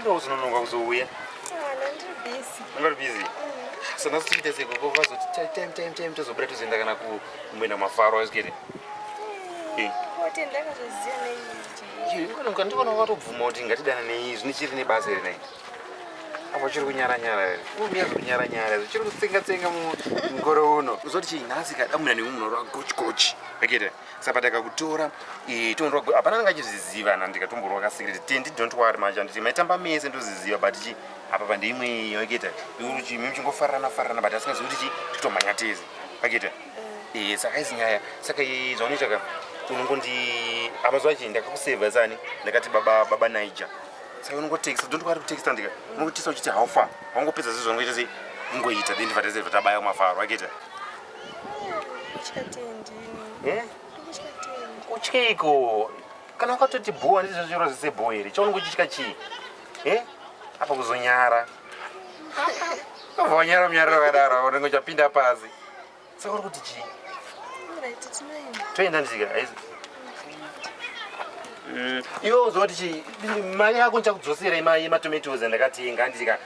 Ndokuzononoka kuzouya. Ungari busy. So nhasi tichiita sei koko vazoti time time time tozobuda tozoenda kana kumboenda mafaro waizikere. Ndikona watobvuma kuti ngatidana nei zvine chiri nebasa here nai. Apa chiri kunyara nyara here. Umiya zviri kunyara nyara here. Chiri kutsenga tsenga mukore uno. Uzoti chii nhasi kadamuna nemunhu wagochi gochi. Akete. saka takakutora eh, tonorwa hapana anga achizviziva na ndikatomborwa kasekireti tendi don't worry manje handiti maitamba mese ndoziziva but chi apa pandeimwe waketa ikuti mimi chingofarana farana but asingazivi kuti chi titomhanya tese waketa eh, saka izi nyaya saka eh, zvaunoita ka unongondi amazuva chii ndakakuseva sani ndakati baba baba niger saka unongotekisa don't worry kutekisa ndika unongotisa uchiti how far wangopedza zvezvangoita sei ungoita then ndivatese vatabaya kumafaro waketa uchiko kana wakatoti bhuwa ndizvo zviro zvese bhuwa here chaunenge uchitya chii e apa kuzonyara obva wanyara munyariro wakadaro unenge uchapinda pasi saka uri kuti chii toenda ndisika aizi mm. iwe uzoti chii mari yako ndichakudzosera yematomatoes andakatenga ndisika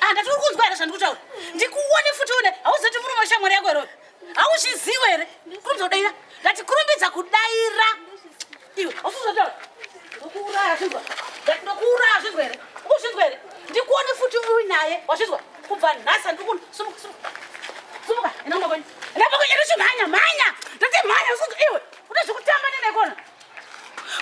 Ah, ndati uri kunzwa here zvandiri kutaura? Ndikuone futi une hauzoti murume weshamwari yako here uyu? Hauzviziwe here? Kurumidza kudaira. Ndati kurumbidza kudaira. Iwe, hausi kuzotaura. Ndokuuraya zvinzwa. Ndati ndokuuraya zvinzwa here? Ukuzvinzwa here? Ndikuone futi uinaye. Wazvinzwa? Kubva nhasi handiri kuno. Sumuka, sumuka. Sumuka, enda kumba kwenyu. Enda kumba kwenyu, enda kumhanya, mhanya. Ndati mhanya, usiku iwe. Une zvekutamba neneikona.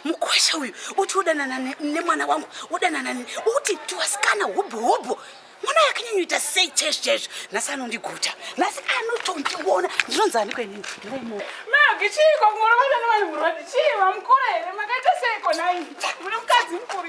mukwasha uyu uti udanana nemwana wangu udanana ne uti tiwasikana hubhu hubhu mwana yakanyanyoita sei chezvi chezvi nhasi anondiguta nhasi anotondiona ndinonzi aniko inini ndiraimo magi chiiko kumorovana nevanhu murwadi chii vamukura here makaita seiko nai mune mukadzi mukuru